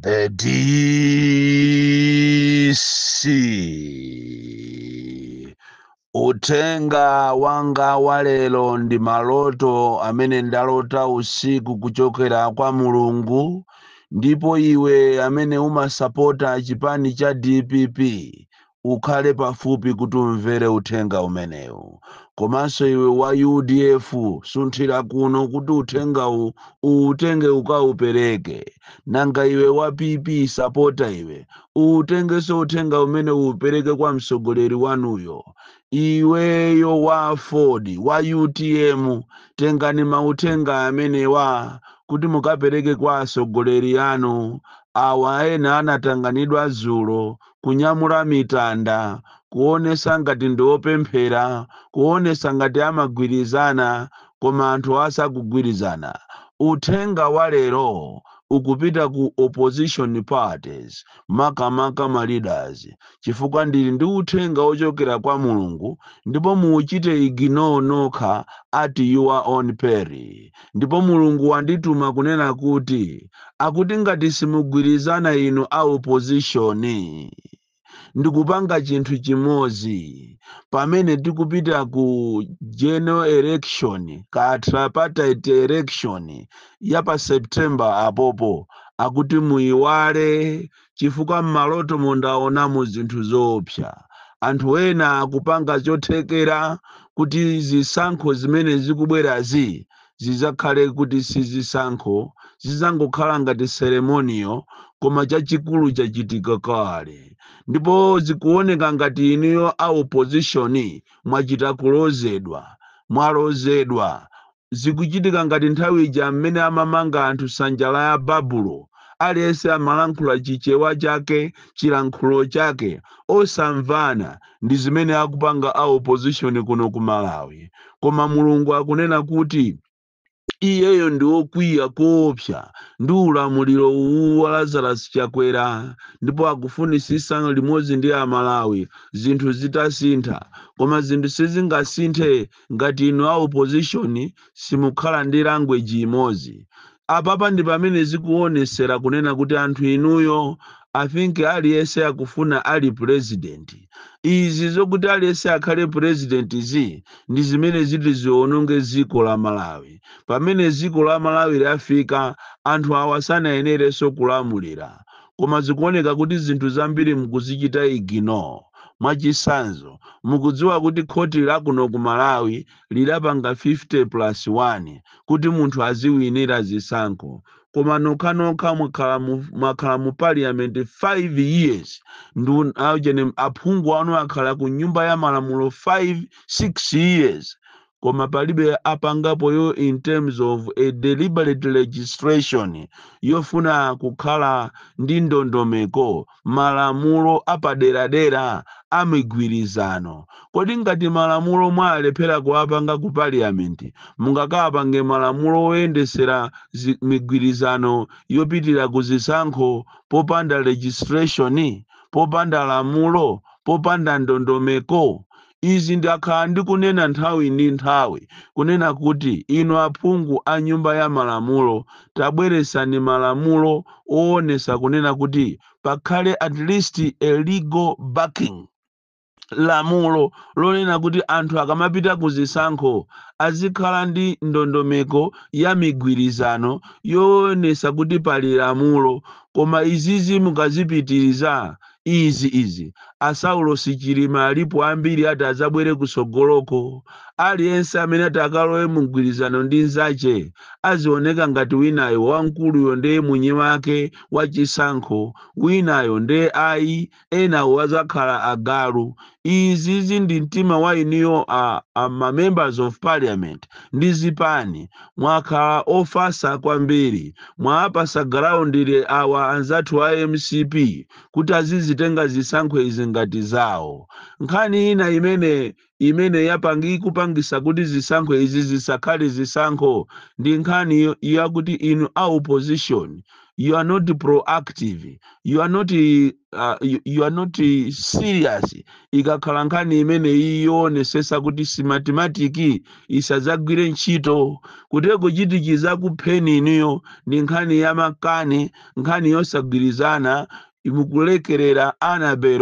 The DC. Utenga wanga wa lero ndi maloto amene ndalota usiku kuchokera kwa Mulungu ndipo iwe amene umasapota chipani cha DPP ukhale pafupi kuti umvere uthenga umenewu komanso iwe wa udf sunthira kuno kuti uthengawu uutenge ukaupereke nanga iwe wa pp sapota iwe uutengenso uthenga umenewu upereke kwa mtsogoleri wanuyo iweyo wa aford wa utm tengani mauthenga amenewa kuti mukapereke kwa atsogoleri anu awa ena anatanganidwa dzulo kunyamula mitanda, kuonesa ngati ndi opemphera, kuonesa ngati amagwirizana koma anthuwa sakugwirizana. Uthenga wa lero ukupita ku opposition parties makamaka ma leaders chifukwa ndili ndi uthenga ochokera kwa Mulungu ndipo muuchite ignore nokha at your own peril. Ndipo Mulungu wandituma kunena kuti akuti ngati simugwirizana inu a opposition ndikupanga chinthu chimodzi pamene tikupita ku general election kaya tripartite election ya pa September apopo akuti muyiwale chifukwa m'malotomo ndaonamo zinthu zoopsa. Anthu ena akupanga chothekera kuti zisankho zimene zikubwerazi zidzakhale kuti si zisankho, zidzangokhala ngati ceremonial, koma chachikulu chachitika kale. Ndipo zikuoneka ngati inuyo a opposition mwachita kulozedwa. Mwalozedwa. Zikuchitika ngati nthawi ija m'mene amamanga anthu sanja ya Babulo, aliyense amalankhula chichewa chake, chilankhulo chake, osamvana, ndi zimene akupanga a opposition kuno ku Malawi. Koma Mulungu akunena kuti Iyeyo ndi okwiya koopsa ndi ulamuliro uwu wa Lazarus Chakwera ndipo akufunisisa limodzi ndi a Malawi zinthu zitasintha. Koma zinthu sizingasinthe ngati inu a opposition simukhala ndi language imodzi. Apapa ndipamene zikuonesera kunena kuti anthu inuyo I think aliyese akufuna ali president. Izi zokuti aliyese akhale president-zi ndi zimene ziti ziononge dziko la Malawi. Pamene dziko la Malawi lafika anthu awa sanayenereso kulamulira. Koma zikuoneka kuti zinthu zambiri mukuzichita ignore. Mwachisanzo mukudziwa kuti khoti lakuno ku Malawi lidapanga 50 plus 1 kuti munthu aziwinira zisankho koma nokhanokha mwakhala mu mwakhala mu parliament 5 years nde aujeni aphungu anu akhala ku nyumba ya malamulo 5 6 years koma palibe apangapo yo in terms of a deliberate legislation yofuna kukhala ndi ndondomeko malamulo apaderadera a migwirizano kodi ngati malamulo mwalephera kuwapanga ku parliament mungakapange malamulo oyendesera zi- migwirizano yopitira ku zisankho popanda legislation popanda lamulo popanda ndondomeko Izi ndakhala ndikunena nthawi ndi nthawi kunena kuti inu aphungu a nyumba ya malamulo tabweresani malamulo owonesa kunena kuti pakhale at least a legal backing, lamulo lonena kuti anthu akamapita ku zisankho azikhala ndi ndondomeko ya migwirizano yowonesa kuti pali lamulo koma izizi mukazipitiriza izi izi a saulosi chilima alipo ambiri ati adzabwere kusogoloko aliyense amene ati akalowe mu mgwirizano ndi nzache azioneka ngati winayo wamkuluyo nde mwini wake wa chisankho winayo nde ayi enawo azakhala agalu izizi ndi mtima wa inuyo a, a ma members of parliament ndi zipani mwakhala ofasa kwambiri mwaapasa ground awa anzathu a mcp kuti azizitenga zisankho izi ngati zawo nkhani ina imene imene yapangi ikupangisa kuti zisankho izi zisakhale zisankho ndi nkhani yo- yakuti inu a opposition you are not proactive you are not uh, you, you are not eh, serious ikakhala nkhani imeneyi yoonesesa kuti smartmatic isadzagwire ntchito kutero kuchitikiza kupheni inuyo ndi nkhani ya makani nkhani yosagwirizana mukulekerera annabel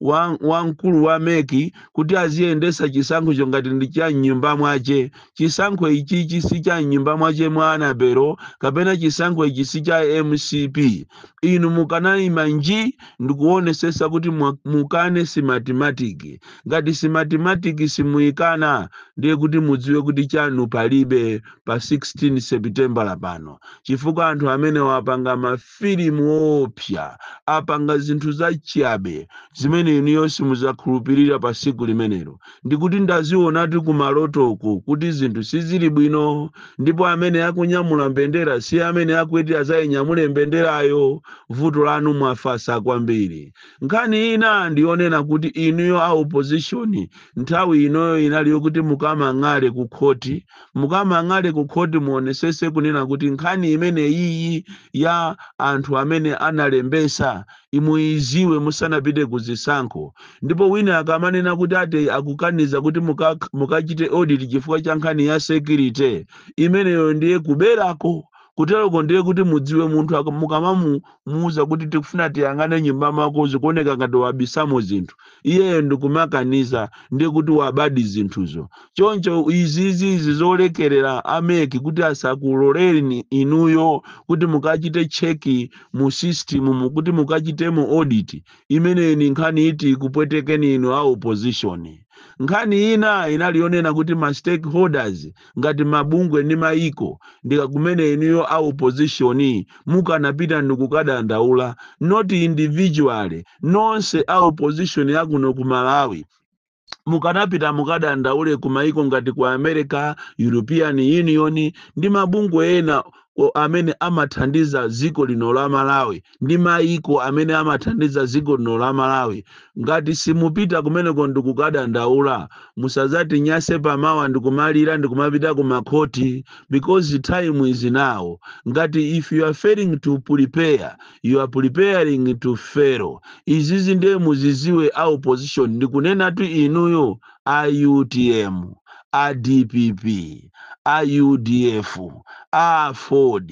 wa- wamkulu wa mec kuti aziyendesa chisankhocho ngati ndi cha mnyumba mwache chisankho ichichi si cha mnyumba mwache mwa annabel kapena chisankho ichi si cha mcp inu mukanaima nji ndikuonesesa kuti mwa- mukane smartmatic ngati smartmatic simuikana ndiye kuti mudziwe kuti chanu palibe pa 16 sepitembala pano chifukwa anthu amenewa apanga mafilimu oopsa apanga zinthu zachiyabe zimene inuyo simudzakhulupirira pa siku limenelo ndikuti ndazionatu kumalotoko kuti zinthu sizili bwino ndipo amene akunyamula mbendera si amene akuti azayinyamule mbenderayo vuto lanu mwafasa kwambiri nkhani ina ndiyonena kuti inuyo a opposition nthawi inoyo inali yokuti mukamang'ale ku khoti mukamang'ale ku khoti muonesese kunena kuti nkhani imene iyi ya anthu amene analembesa imuiziwe musanapite ku zisankho ndipo wina akamanena kuti ati akukaniza kuti mukachite audit chifukwa cha nkhani ya security imeneyo ndiye kuberako kuteroko ndiye kuti mudziwe munthu mukamamuuza kuti tikufuna tiyang'ane m'nyumba mwako zikuoneka ngati wabisamo zinthu iyeyo ndikumakaniza ndiye kuti wabadi zinthuzo choncho izizi izi zolekerera a MEC kuti asakuloleni inuyo kuti mukachite cheki mu system kuti mukachitemo audit imeneyo ni nkhani iti ikupwetekeni inu a opposition nkhani ina inali yonena kuti ma stakeholders ngati mabungwe ndi mayiko ndi kumene inuyo a opposition mukanapita ndikukadandaula not individually nonse a opposition yakuno ku malawi mukanapita mukadandaule ku mayiko ngati ku america european union ndi mabungwe ena amene amathandiza dziko lino la Malawi ndi mayiko amene amathandiza dziko lino la Malawi. Ngati simupita kumeneko ndi kukadandaula, musadzatinyase pa mawa ndi kumalira ndi kumapita ku makhoti because time is now. Ngati if you are failing to prepare, you are preparing to fail. Izizi ndiye muziziwe a opposition ndikunenatu inuyo a utm, a dpp, a udf, a aford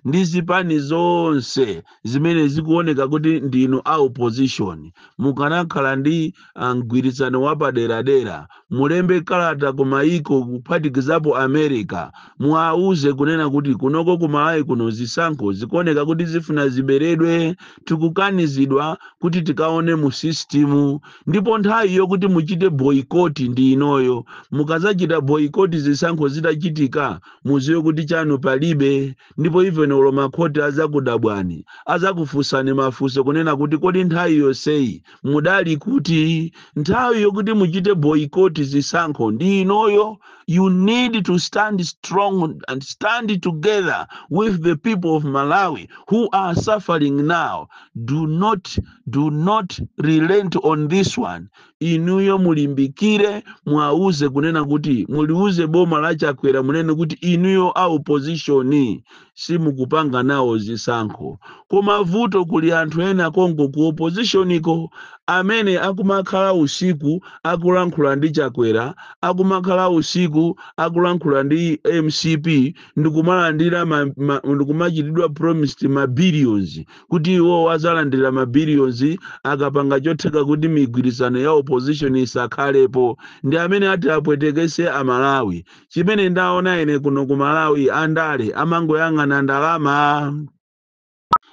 ndi zipani zonse zimene zikuoneka kuti ndinu a opposition mukanakhala ndi ah, mgwirizano wapaderadera mulembe kalata ku mayiko kuphatikizapo america muwauze kunena kuti kunoko ku malawi kuno zisankho zikuoneka kuti zifuna ziberedwe tikukanizidwa kuti tikaone mu system ndipo nthawi yokuti muchite boycott ndi inoyo mukazachita boycott zisankho zitachitika muziwe kuti chanu palibe ndipo even olo makhoti azakudabwani azakufunsani mafunso kunena kuti kodi nthawi yonseyi mudali kuti nthawi yokuti muchite boycott zisankho ndi inoyo you need to stand strong and stand together with the people of malawi who are suffering now do not do not relent on this one inuyo mulimbikire muwauze kunena kuti muliuze boma la chakwera munene kuti inuyo a opposition simukupanga nawo zisankho koma vuto kuli anthu ena konko ku oppositioniko amene akumakhala usiku akulankhula ndi chakwera akumakhala usiku akulankhula ndi mcp ndikumalandira ma- ma- ndikumachitidwa promised ma billions kuti iwowo adzalandira ma billions akapanga chotheka kuti migwirizano ya opposition isakhalepo ndi amene ati apwetekese a Malawi chimene ndaona ine kuno ku Malawi andale amangoyang'ana ndalama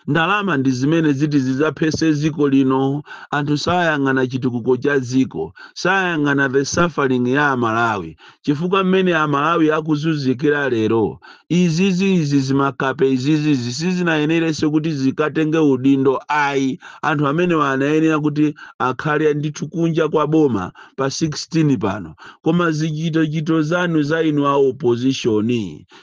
ndalama ndi zimene ziti zidzaphese dziko lino anthu sayang'ana chitukuko cha dziko sayang'ana the suffering ya amalawi chifukwa mmene a Malawi akuzunzikira lero izizi izi zimakape izizi izi sizinayenerenso kuti zikatenge udindo ayi anthu amenewa anayenera kuti akhale ndithu kunja kwa boma pa 16 pano koma zichitochito zanu za inu a opposition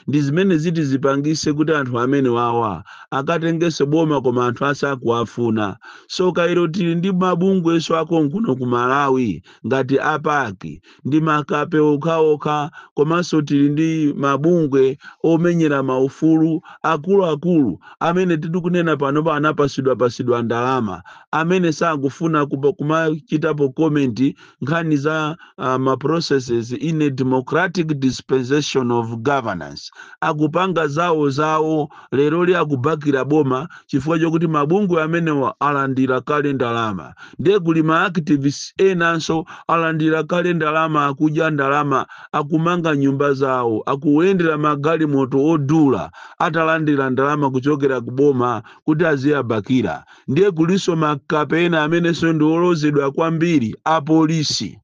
ndi zimene ziti zipangise kuti anthu amenewawa akatengenso boma koma anthu asakuwafuna so kairo tili ndi mabungwenso akonkuno ku Malawi ngati a PAC ndi makape okhaokha komanso tili ndi mabungwe omenyera maufulu akuluakulu amene titikunena panopa anapasidwapasidwa ndalama amene sakufuna kupa- kumachitapo comment nkhani za uh, ma processes in a democratic dispensation of governance akupanga zawo zawo leroli akubakila boma chifukwa chokuti mabungwe amenewa alandira kale ndalama ndiye kuli ma activists enanso alandira kale ndalama akudya ndalama akumanga nyumba zawo akuyendera magalimoto odula atalandira ndalama kuchokera ku boma kuti aziyabakira ndiye kulinso makape ena amenenso ndi olozedwa kwambiri apolisi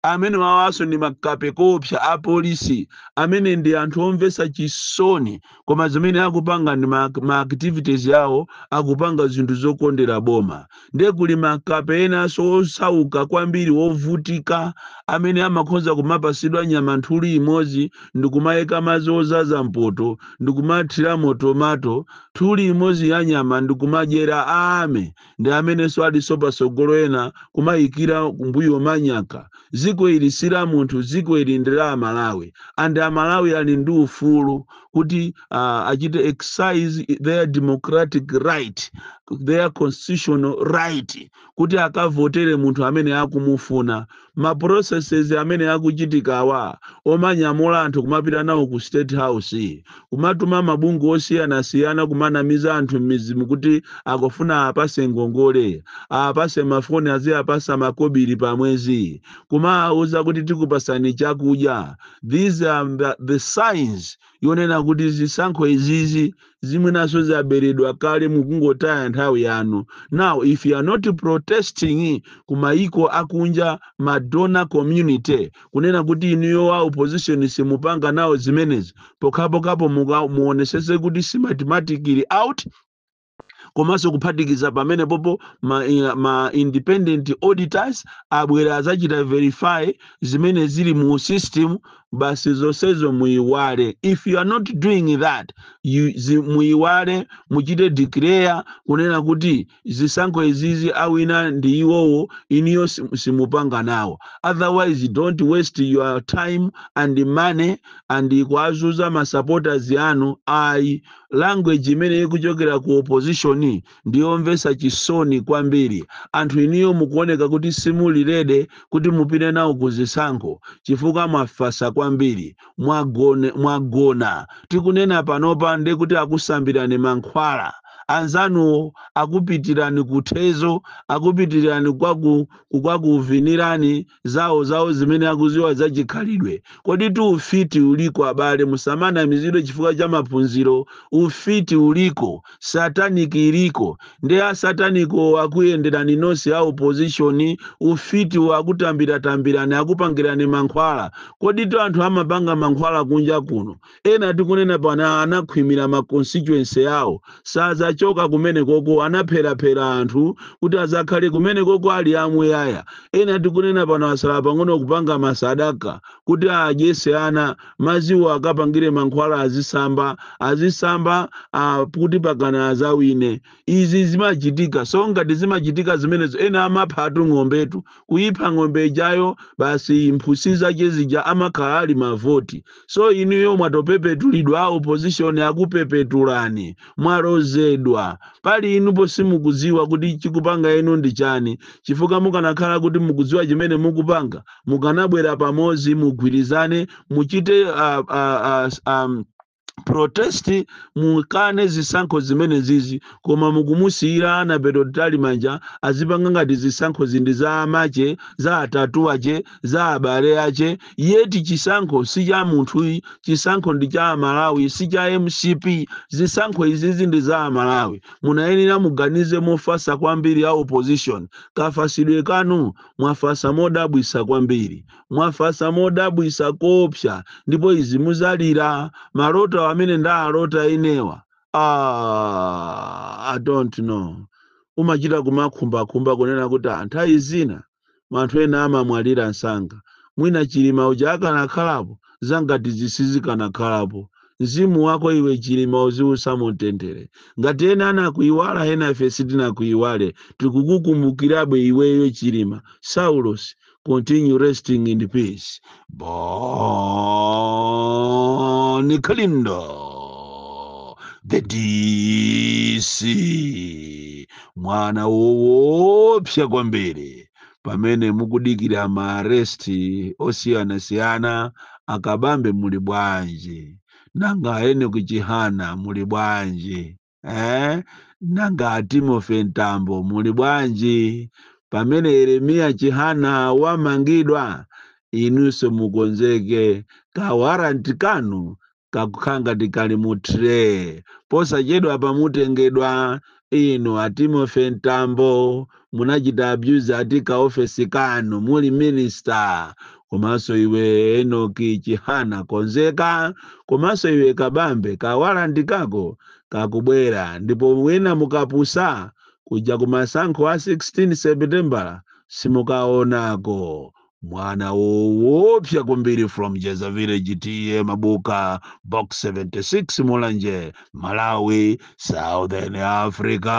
Amenewawaso ndi makape koopsa apolisi amene ndi anthu omvesa chisoni koma zimene akupanga ndi ma ma activities awo akupanga zinthu zokondera boma nde kuli makape enaso osauka kwambiri ovutika amene amakhoza kumapasidwa nyama nthuli imozi ndikumayika mazi ozaza mpoto ndikumathiramo tomato nthuli imozi ya nyama ndikumadyera army ndi amenenso alinso patsogolo ena kumayikira kumbuyo manyaka dziko ili si la munthu dziko ili ndi la amalawi and amalawi ali ndi ufulu kuti uh, achite exercise their democratic right their constitutional right kuti akavotere munthu amene akumufuna ma processes amene akuchitikawa omanyamula anthu kumapita nawo ku state house kumatuma mabungwe osiyanasiyana kumanamiza anthu m'mizimu kuti akufuna apase ngongole apase mafoni aziyapasa makobiri pa mwezi kumawauza kuti tikupasani chakudya these are the, the signs yonena kuti zisankho izizi mwinanso zaberedwa kale mukungotaya nthawi yanu now if you are not protesting kumayiko akunja ma donor community kunena kuti inuyo wa opposition simupanga nawo zimenezi pokhapokhapo muka- muonesese kuti Smartmatic ili out komanso kuphatikiza pamenepopo ma, eh, ma independent auditors abwera azachita verify zimene zili mu system basi zonsezo muyiwale if you are not doing that you, zi, muyiwale muchite declare kunena kuti zisankho izizi awina ndi iwowo inuyo sim- simupanga nawo otherwise don't waste your time and money and kuazuza ma supporters anu ayi language imene ikuchokera ku opposition ndi yomvetsa chisoni kwambiri anthu inuyo mukuoneka kuti simuli ready kuti mupite nawo ku zisankho chifukwa mwafasa kwambiri mwagone, mwagona tikunena panopa nde kuti akusambirani mankhwala anzanuwo akupitirani kuthezo akupitirani kwaku kwakuvinirani zawo zawo zimene akuziwa za chikhalidwe koditu ufiti uliko abale musamanamizidwe chifukwa cha maphunziro ufiti uliko satanic iliko nde asataniko akuyenderani nonse a opposition ufiti akutambira tambirani akupangirani mankhwala koditu anthu amapanga mankhwala kunja kuno Ena tikunena pano anakhwimira ma constituency awo. Sadzachoka kumenekoko, anapheraphera anthu kuti adzakhale kumenekoko ali amuyaya. Ena tikunena pano atsala pang'ono kupanga masadaka kuti adyetse ana, madziwo akapangire mankhwala azitsamba, azitsamba kuti mpakana adzawine. Izi zimachitika. So ngati zimachitika zimenezo ena amaphatu ng'ombetu. Kuipha ng'ombe ijayo basi mphutsi zake zija amakhala ali mavoti. so inuyo mwatopepetulidwa a opposition akupepetulani mwalozedwa pali inupo simukudziwa kuti chikupanga inu ndi chani chifukwa mukanakhala kuti mukudziwa chimene mukupanga mukanabwera pamodzi mugwirizane muchite uh, uh, uh, um, protest mukane zisankho zimenezizi koma mukumusiyira Annabel Mtalimanja azipanga ngati zisankhozi ndi za amache za atate ache za abale ache yeti chisankho si cha munthu chisankho ndi cha amalawi si cha mcp zisankho izizi ndi za amalawi munayenera muganize mofasa kwambiri a opposition kafasidwe kanu mwafasa modabwisa kwambiri mwafasa modabwisa koopsa ndipo izi muzalira maloto amene ndaalota inewa ah, i don't know umachita kumakhumbakhumba kunena kuti nthawi zina anthu ena amamwalira msanga mwina chilima uja akanakhalapo zangatizi sizikanakhalapo mzimu wako iwe chilima uziusa mumtendere ngati ena anakuiwala ena ife sitinakuiwale tikukukumbukirabe iweyo chilima saulos continue resting in peace Boni Kalindo, the DC, mwana woopsa kwambiri pamene mukudikira maaresti osiyanasiyana akabambe muli bwanji nanga a enoki chihana muli bwanji Eh? Nanga a Timothy Mtambo muli bwanji? Pamene Yeremiya Chihana wamangidwa, inunso mukonzeke ka warrant kanu kakukhala ngati kali mu tray. Posachedwa apa mutengedwa inu a Timothy Mtambo munachita abuse ati ka ofesi kanu muli minister komanso iwe enock chihana konzeka komanso iwe kabambe kawalanti kako kakubwera ndipo mwina mukapusa kuja kumasankho a 16 sepitembala simukaonako mwana woopsa kwambiri from jeza village ta mabuka box 76 mulanje malawi southern africa